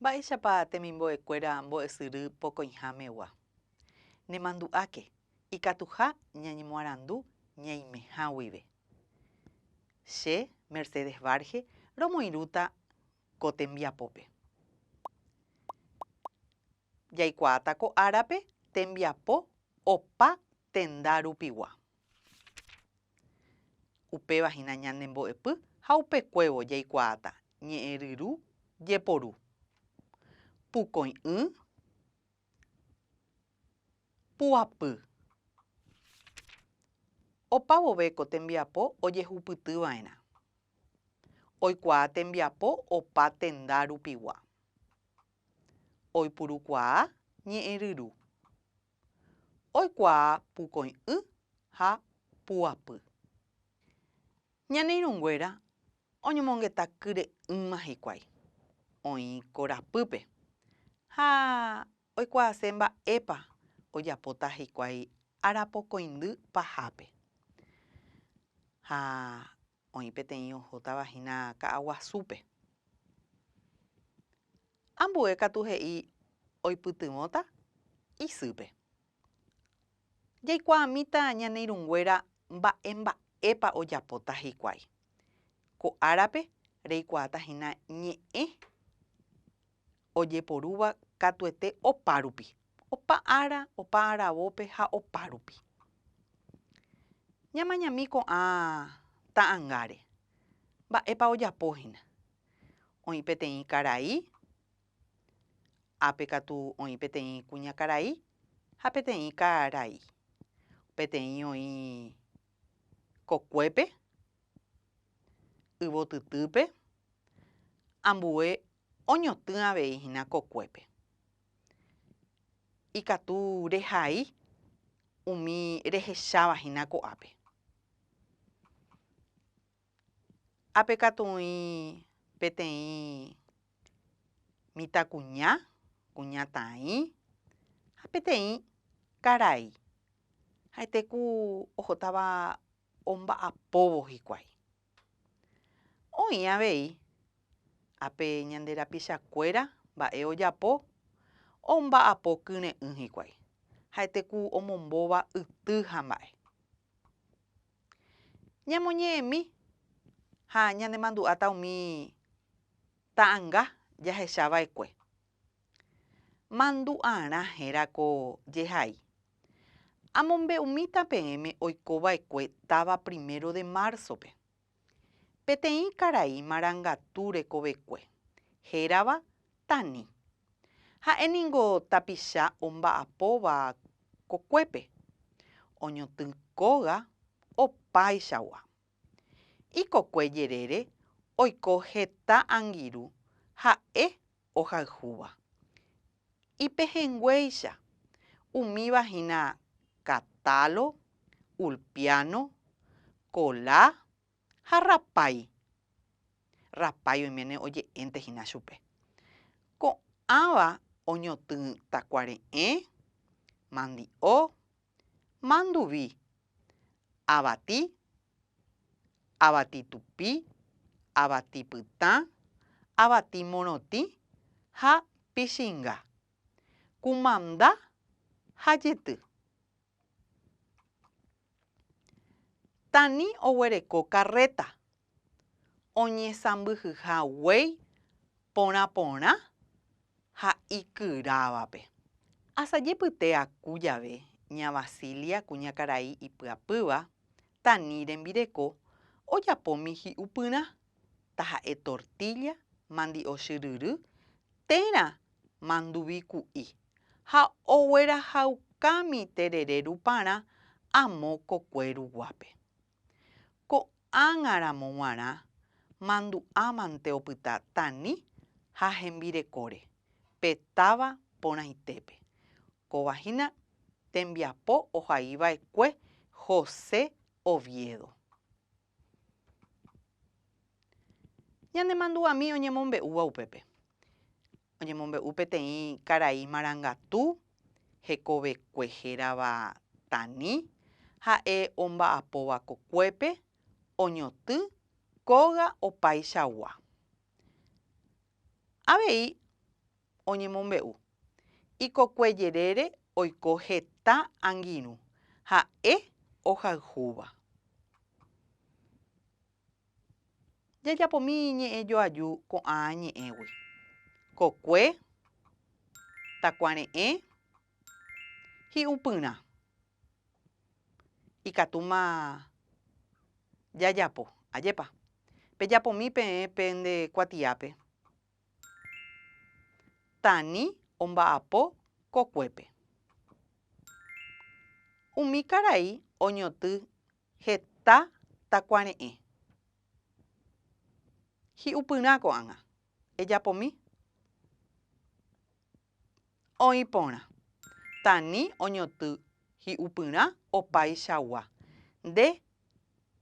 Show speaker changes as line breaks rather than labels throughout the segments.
Mba'éichapa temimbo'ekuéra mbo'esyry pokõihámegua? Nemandu'áke, ikatuha ñañemoarandu ñaimeha guive. Che, Mercedes Varge, romoirũta ko tembiapópe. Jaikuaáta ko árape tembiapo opa tenda rupigua. Upéva hína ñane mbo'epy ha upekuévo jaikuaáta ñe'ẽryru jeporu, pukoi'ỹ, puapy. Opa vove ko tembiapo ojehupyty va'erã. Oikuaa tembiapo opa tenda rupigua. Oipurukuaa ñe'ẽryru. oikuaa pukoĩ'ỹ ha puapy. Ñane irũnguéra oñomongeta kyre'ỹma hikuái, oĩ korapýpe ha oikuaase mba'épa ojapóta hikuái arapokõindy pahápe. Ha Oĩ peteĩ ohótava hína ka'aguasúpe. Ambue katu he'i oipytyvõta isýpe. Jaikuaamíta ñane irũnguéra mba'e mba'épa ojapóta hikuái. Ko árape reikuaáta hína ñe'ẽ ojeporúva katuete opárupi, opa ára, opa aravópe ha opárupi. Ñamañami ko'ã ta'angáre, mba'épa ojapo hína. Oĩ peteĩ karai, ápe katu oĩ peteĩ kuñakarai ha peteĩ karai. Peteĩ oĩ kokuépe, yvotytýpe, ambue oñotỹ avei hína kokuépe. Ikatu rehai umi rehecháva hína ko'ápe. Ápe katu oĩ peteĩ mitãkuña, kuñataĩ ha peteĩ karai. Ha'ete ku ohótava omba'apóvo hikuái. Oĩ avei ape ñande rapichakuéra mba'e ojapo omba'apo kyre'ỹ hikuái, ha'ete ku omombóva yty ha mba'e. Ñamoñe'ẽmi ha ñanemandu'áta umi ta'anga jahecha va'ekue. Mandu'arã héra ko jehai. Amombe'umíta peẽme oiko vaekue táva primero de marzo-pe. Peteĩ karai marangatu rekovekue, hérava Tani. Ha'e ningo tapicha omba'apóva kokuépe. Oñotỹ kóga opáichagua. Ikokue jerére oiko heta angirũ ha'e ohayhúva. Ipehẽnguéicha, umíva hína katálo, ulpiáno, kola ha rapái. Rapái oiméne oje'ẽnte hína chupe. Ko'ãva oñotỹtakuare'ẽ, mandi'o, manduvi, avati, avati tupi, avati pytã, avati morotĩ ha pichinga, kumanda ha jyty. Tani oguereko karréta oñesãmbyhyha guéi porã porã ha ikyrávape. Asajepyte aku jave ña Vasilia kuñakarai ipyapýva, Tani rembireko, ojapómi hi'upyrã, taha'e tortílla, mandi'o chyryry, térã manduvi ku'i, ha oguerahaukámi terere ruparã amo kokue ruguápe. Ko'ág̃a ramo g̃uarã mandu'a mante opyta Tani ha hembirekóre pe táva porãitépe. Kóva hína tembiapo ohai va'ekue José Oviedo. Ñane mandu'ami oñemombe'úva upépe. Oñemombe'u peteĩ karai marangatu hekovekue hérava Tani, ha'e omba'apóva kokuépe, oñotỹ kóga opaichagua. Avei oñemombe'u, ikokue jerére oiko heta angirũ, ha'e ohayhúva. Jajapomi ñe'ẽ joaju ko'ã ñe'ẽgui. Kokue, takuare'ẽ, hi'upyrã. Ikatúma jajapo, ajépa. Pejapomi peẽ pende kuatiápe. Tani omba'apo kokuépe. Umi karai oñoty Heta takuare'ẽ. Hi'upyrã ko'ág̃a. Ejapomi. Oĩ porã. Tani oñoty hi'upyrã opaichagua. Nde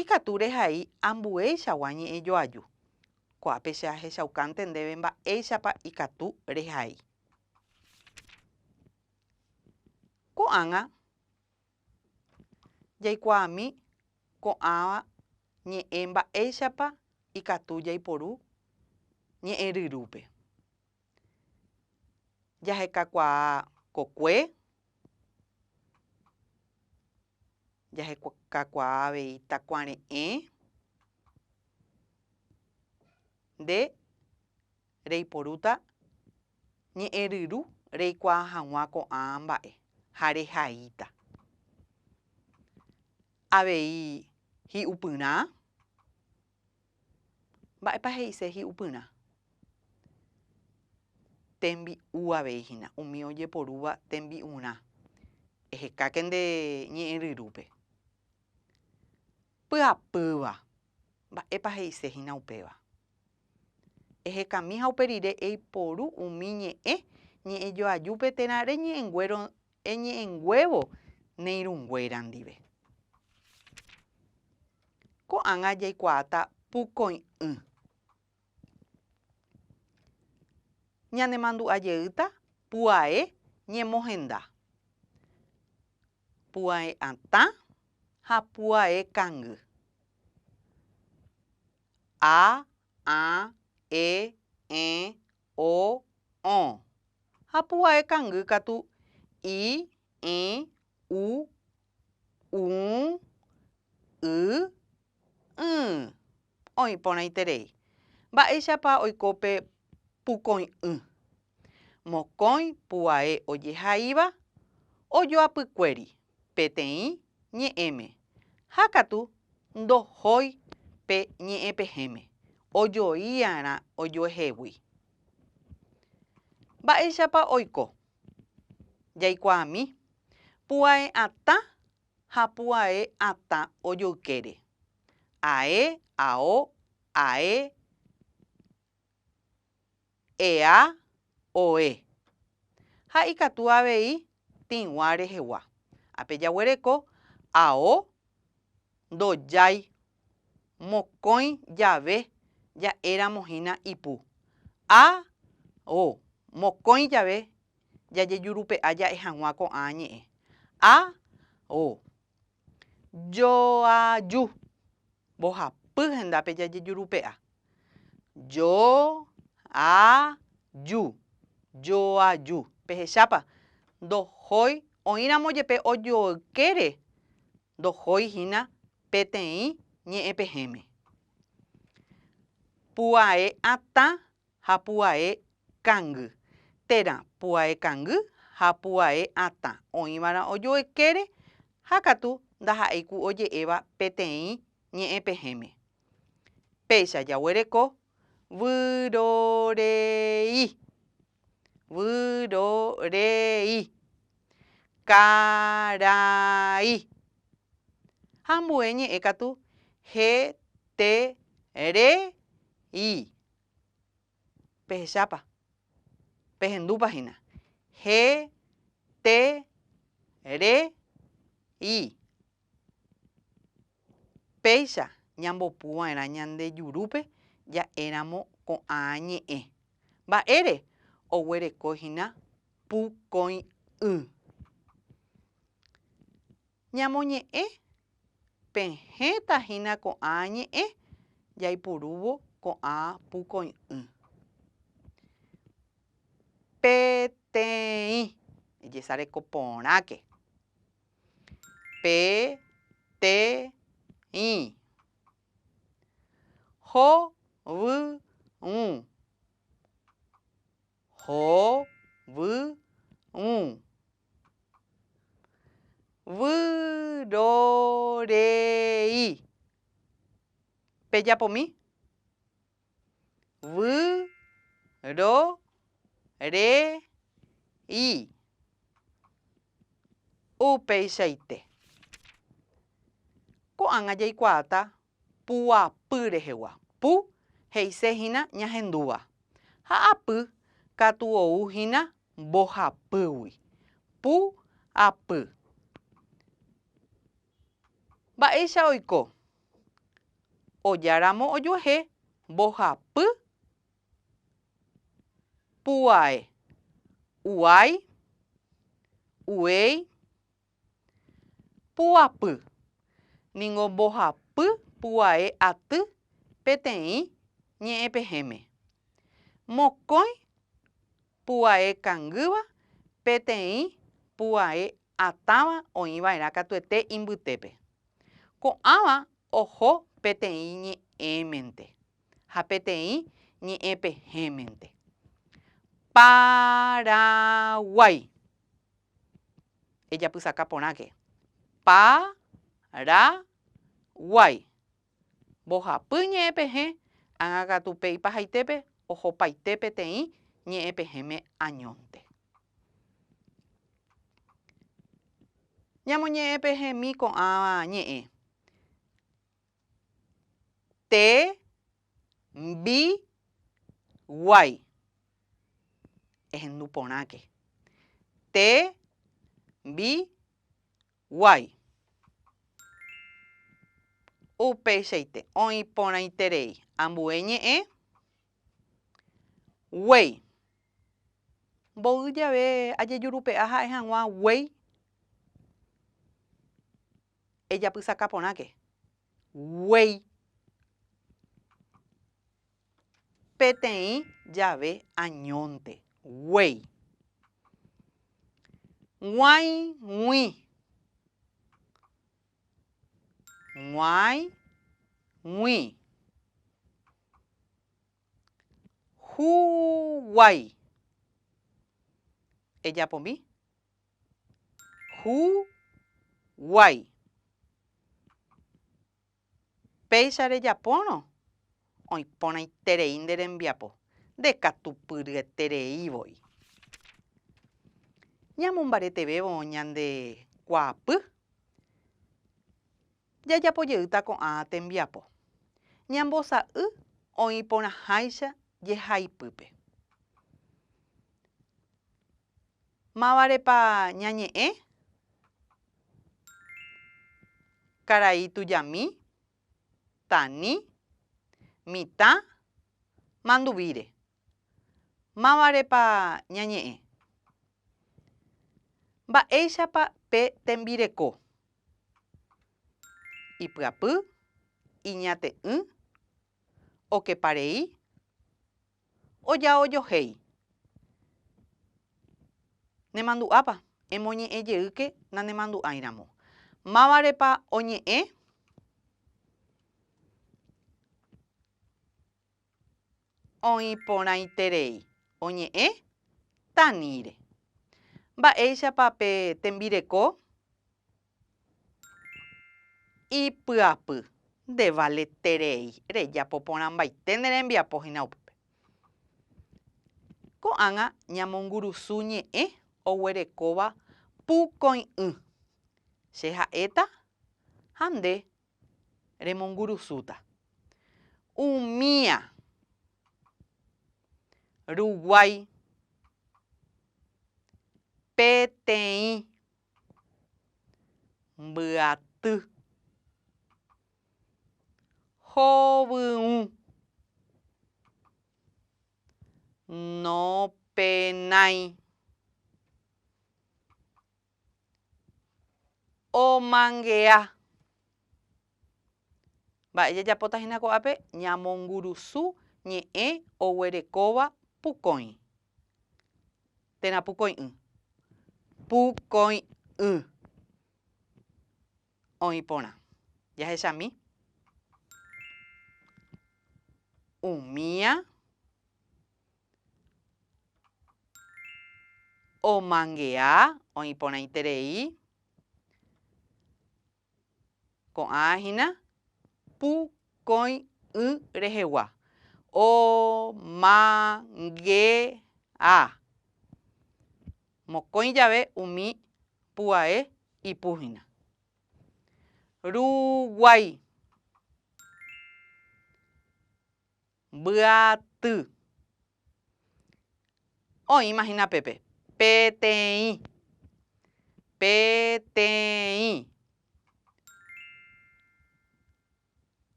ikatu rehai ambueichagua ñe'ẽ joaju. Ko'ápe che ahechaukánte ndéve mba'éichapa ikatu rehai. Ko'ág̃a. Jaikuaami ko'ã ñe'ẽ mba'éichapa ikatu jaiporu ñe'ẽ ryrúpe. Jahekakuaa kokue, jahekakuaa avei takuare'ẽ, nde reiporúta ñe'ẽryru reikuaa hag̃ua ko'ã mba'e ha rehaíta. Avei hi'upyrã. Mba'épa he'ise hi'upyrã? Tembi'u avei hína, umi ojeporúva tembi'urã. Ehekáke nde ñe'ẽryrúpe. Pyapýva. Mba'épa he'ise hína upéva? Ehekami ha upe rire eiporu umi ñe'ẽ ñe'ẽjoajúpe térã reñe'ẽnguéro eñe'ẽnguévo neirũnguéra ndive. Ko'ág̃a jaikuaáta pukõi'ỹ. Ñanemandu'a jeýta puae ñemohenda, puae atã ha puae kangy. A, ã, e, ẽ, o, õ. Ha pu'ae kangy katu, i, ĩ, u, ũ, y, ỹ. Oĩ porãiterei. Mba'éichapa oiko pe pukõi'ỹ? Mokõi pu'ae ojehaíva ojoapykuéri. peteĩ ñe'ẽme ha katu ndohói pe ñe'ẽpehẽme ojoi'arã ojuehegui. Mba'éichapa oiko? Jaikuaami pu'ae'atã ha pu'ae'atã ojoykére, ae, ao, ae, ea oe, ha ikatu avei tĩgua rehegua. Ha pe jaguereko ao ndojái mokõi jave ja'éramo hína ipu. A o mokõi jave jajejurupe'a ja'e hag̃ua ko'ã ñe'ẽ. A o Joaju. Mbohapy hendápe jajejurupe'a. Jo-a-ju. Joaju. Pehechápa? Ndohói, oĩramo jepe ojoykére, ndohói hína peteĩ ñe'ẽpehẽme. Pu'ae atã ha pu'ae kangy, térã pu'ae kangy ha pu'ae atã oĩva'erã ojoekére ha katu ndaha'éi ku oje'éva peteĩ ñe'ẽ pehẽme. Péicha jaguereko vyrorei. Vyrorei. Karai. Ha ambue ñe'ẽ katu heterei. Pehechápa? Pehendúpa hína. Je, te, re, i. Péicha ñambopy va'erã ñande jurúpe ja'éramo ko'ã ñe'ẽ. Mba'ére? Oguereko hína pu koĩ y. Ñamoñe'ẽ, pehẽta hína ko'ã ñe'ẽ jaipurúvo ko'ã pukoi'ỹ. Peteĩ, ejesareko porãke. Peteĩ. Hovyũ. Hovyũ. Vyrorei. Pejapomi. Vyrorei. Upeichaite. Ko'ág̃a jaikuaáta Pu'apy rehegua. Pu, he'ise hína ñahendúva. Ha apy, katu ou hína mbohapýgui. Pu'-apy. Mba'éicha oiko. Ojáramo ojuehe mbohapy pu'ae. Uái, uéi. Pu'apy. Ningo mbohapy pu'ae aty peteĩ ñe'ẽpehẽme. Mokõi pu'ae kangýva peteĩ pu'ae atãva oĩva'erã katuete imbytépe. Ko'ãva oho peteĩ ñe'ẽmente ha peteĩ ñe'ẽpehẽmente. Paraguái. Ejapysaka porãke. Pa, ra, guái. Mbohapy ñe'ẽpehẽ ág̃akatu pe ipahaitépe ohopaite peteĩ ñe'ẽpehẽme añónte. Ñamoñe'ẽpehẽmi ko'ã ñe'ẽ. Te mbi guai. Ehendu porãke. Te mbi guai. Upeichaite oĩ porãiterei ambue ñe'ẽ. Guei. Mboy jave ajejurupe'a ha'e hag̃ua guei. Ejapysaka porãke guéi peteĩ jave añónte guéi. G̃uãi, g̃ui. G̃uãi, g̃ui. Huguái. Ejapomi. Hu guái. Péicha rejapórõ, oĩporãiterei nde rembiapo, ndekatupyryeterei voi. Ñamombaretevévo ñande kuaapy, jajapojeýta ko'ã tembiapo. Ñambosa'y oĩporãháicha jehaipype. Mávarepa ñañe'ẽ? Karai tujami, tani, mitã, manduvíre. Mávarepa ñañe'ẽ? Mba'éichapa pe tembireko? Ipyapy, iñate'ỹ, okeparei. Ojaojohéi. Nemandu'ápa? Emoñe'ẽ jeýke nanemandu'ái ramo. Mávarepa oñe'ẽ? Oĩ porãiterei. Oñe'ẽ Tanire. Mba'éichapa pe tembireko? Ipy'apy. Nde valeterei. Rejapo porãmbaite ne rembiapo hína upépe. Ko'ág̃a ñamongurusu ñe'ẽ oguerekóva pukõi'ỹ. Che ha'éta ha nde remongurusúta. Umía. Ruguái. Peteĩ. Mbyaty. Hovyũ. Nopenái. Omangea. Mba'e jajapóta hína ko'ápe? Ñamongurusu ñe'ẽ oguerekóva pukõi. Térã pukõi'ỹ. Pukõi'ỹ. Oĩ porã. Jahechami. Umía. Omangea. Oĩ porãiterei. Ko'ã hína, pu, kõi, y rehegua. O, ma, nge, a. Mokõi jave umi pu'ae ipu hína. Ru, guái. Mbya, ty. Oĩma hína pépe, peteĩ, peteĩ.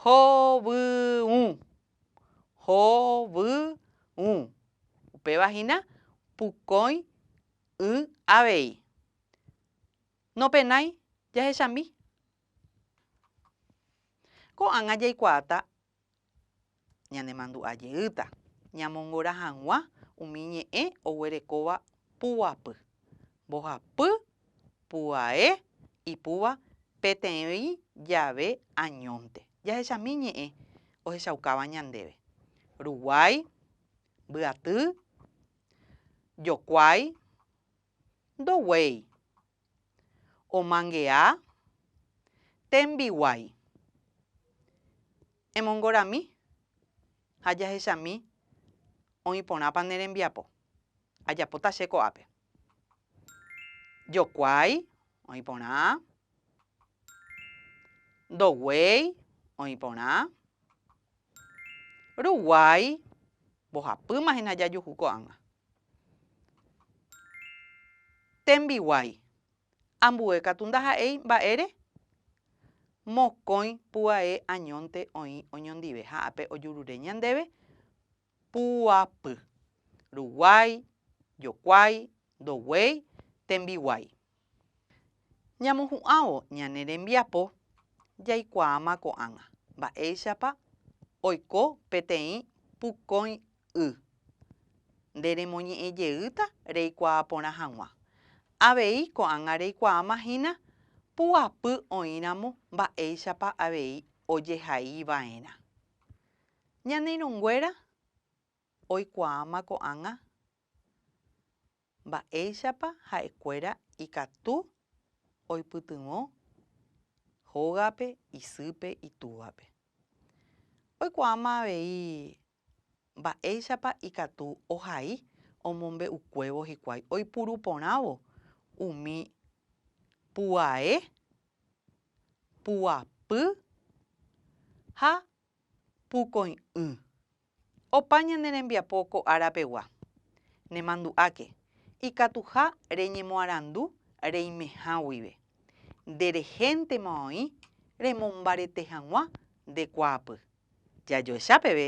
Hovyũ, hovyũ. Upéva hína, pukõi y avei. Nopenái jahechambi. Ko'ág̃a jaikuaáta Ñanemandu'a jeýta ñamongora hag̃ua umi ñe'ẽ oguerekóva puguapy, mbohapy, pu'ae, ipúva peteĩ jave añónte. Jahechami ñe'ẽ ohechaukáva ñandéve, ruguái, mbyaty, jokuái, ndoguéi. Omangea tembiguái. Emongorami ha jahechami oĩ porãpa ne rembiapo. Ajapóta che ko'ápe. Jokuái oĩ porã. Ndoguéi oĩ porã. Ruguái mbohapýma hína jajuhu ko'ág̃a. Tembiguái. Ambue katu ndaha'éi mba'ére. Mokõi pu'ae añónte oĩ oñondive ha ápe ojurure ñandéve pu'apy. Ruguái, jokuái, ndoguéi, tembiguái. Ñamohu'ãvo ñane rembiapo jaikuaáma ko'ág̃a mba'éichapa oiko peteĩ pukõi y. Nde remoñe'ẽ jeýta reikuaa porã hag̃ua. Avei ko'ág̃a reikuaáma hína puapy oĩramo mba'éichapa avei ojehai va'erã. Ñane irũnguéra oikuaáma ko'ág̃a. Mba'éichapa ha'ekuéra ikatu oipytyvõ hógape isýpe itúvape? Oikuaáma avei mba'éichapa ikatu ohai omombe'ukuévo hikuái oipuru porãvo umi puae, puapy ha pukõi'ỹ Opa ñane rembiapo ko ára pegua. Nemandu'áke, ikatuha reñemoarandu reimeha guive. Nde rehéntema oĩ remombarete hag̃ua nde kuaapy. Jajoecha peve.